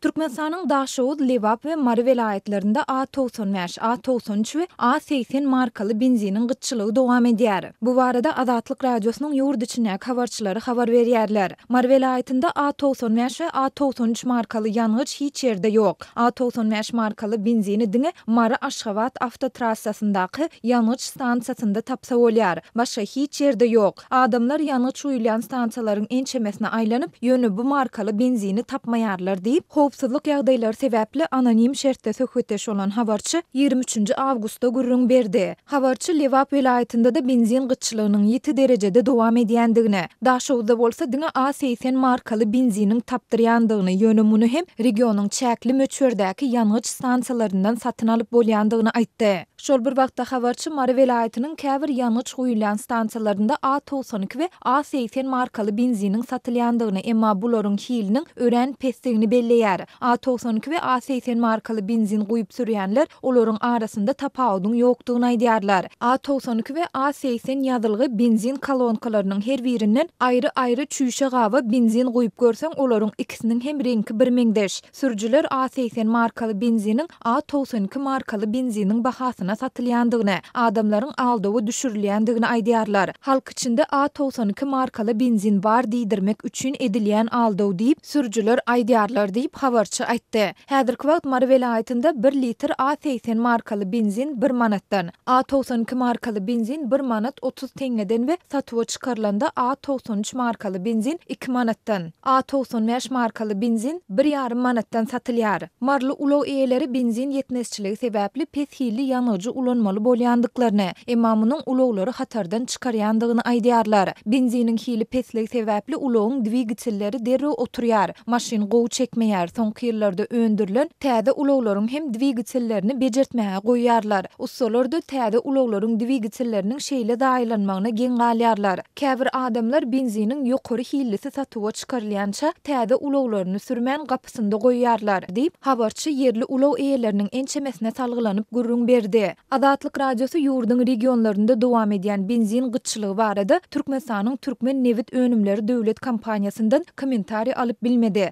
Türkmenistanyň Daşoguz, Lebap we Mary welaýatlarynda A togsan bäş, A togsan üç we A segsen markaly benziniň gytçylygy dowam edýär. Bu barada Azatlyk Radiosynyň ýurt içindäki habarçylary habar berýärler. Mary welaýatynda A togsan bäş we A togsan üç markaly ýangyç hiç ýerde ýok. A togsan bäş markaly benzini diňe Mary, Aşgabat awtotrassasyndaky ýangyç stansiýasynda tapsa bolýar. Başga hiç ýerde ýok. Adamlar ýangyç guýulýan stansiýalaryň ençemesine aýlanyp, ýöne bu markaly benzini tapmaýarlar diýip, howpsuzlyk ýagdaýlary sebäpli anonim şertde söhbetdeş bolan habarçy ýigrimi üçünji awgustda gürrüň berdi. Habarçy Lebap welaýatynda-da benzin gytçylygynyň ýiti derejede dowam edýändigini, Daşoguzda bolsa diňe A segsen markaly benziniň tapdyrýandygyny, ýöne muny hem regionyň çäkli möçberdäki ýangyç stansiýalaryndan satyn alyp bolýandygyny aýtdy. Şol bir wagtda, habarçy Mary welaýatynyň käbir ýangyç guýulýan stansiýalarynda A togsan iki we A segsen markaly benziniň satylýandygyny, emma bularyň hiliniň örän pesdigini belleýär. A togsan iki we A segsen markaly benzin guýup sürýänler olaryň arasynda tapawudyň ýokdugyny aýdýarlar. A togsan iki we A segsen ýazylgy benzin kolonkalarynyň her birinden aýry-aýry çüýşe gaba benzin guýup görseň, olaryň ikisiniň hem reňki birmeňzeş. Sürüjiler A segsen markaly benziniň A togsan iki markaly benziniň bahasyna satylýandygyny, adamlaryň aldawa düşürilýändigini aýdýarlar. Halk içinde A togsan iki markaly benzin bar diýdirmek üçin edilýän aldaw diýip, sürüjiler aýdýarlar diýip, habarçy aýtdy. Häzirki wagt Mary welaýatynda bir litr A segsen markaly benzin bir manatdan, A togsan iki markaly benzin bir manat otuz teňňeden we satuwa çykarylanda A togsan üç markaly benzin iki manatdan, A togsan bäş markaly benzin bir ýarym manatdan satylýar. Maryly ulag eýeleri benzin ýetmezçiligi sebäpli pes hilli ýangyjy ulanmaly bolýandyklaryny, emma munuň ulaglary hatardan çykarýandygyny aýdýarlar. Benziniň hili pesligi sebäpli ulagyň dwigatelleri derrew oturýar, maşyn gowy çekmeýär, soňky ýyllarda öndürilen täze ulaglaryň hem dwigatellerini bejertmäge goýýarlar. Ussalar-da täze ulaglaryň dwigatelleriniň şeýle zaýalanmagyna geň galýarlar. Käbir adamlar benziniň ýokary hillisi satuwa çykarylýança täze ulaglaryny sürmän gapysynda goýýarlar, diýip, habarçy ýerli ulag eýeleriniň ençemesine salgylanyp gürrüň berdi. Azatlyk Radiosy ýurduň regionlarynda dowam edýän benzin gytçylygy barada Türkmenistanyň Türkmen nebit önümleri döwlet kompaniýasyndan kommentariý alyp bilmedi.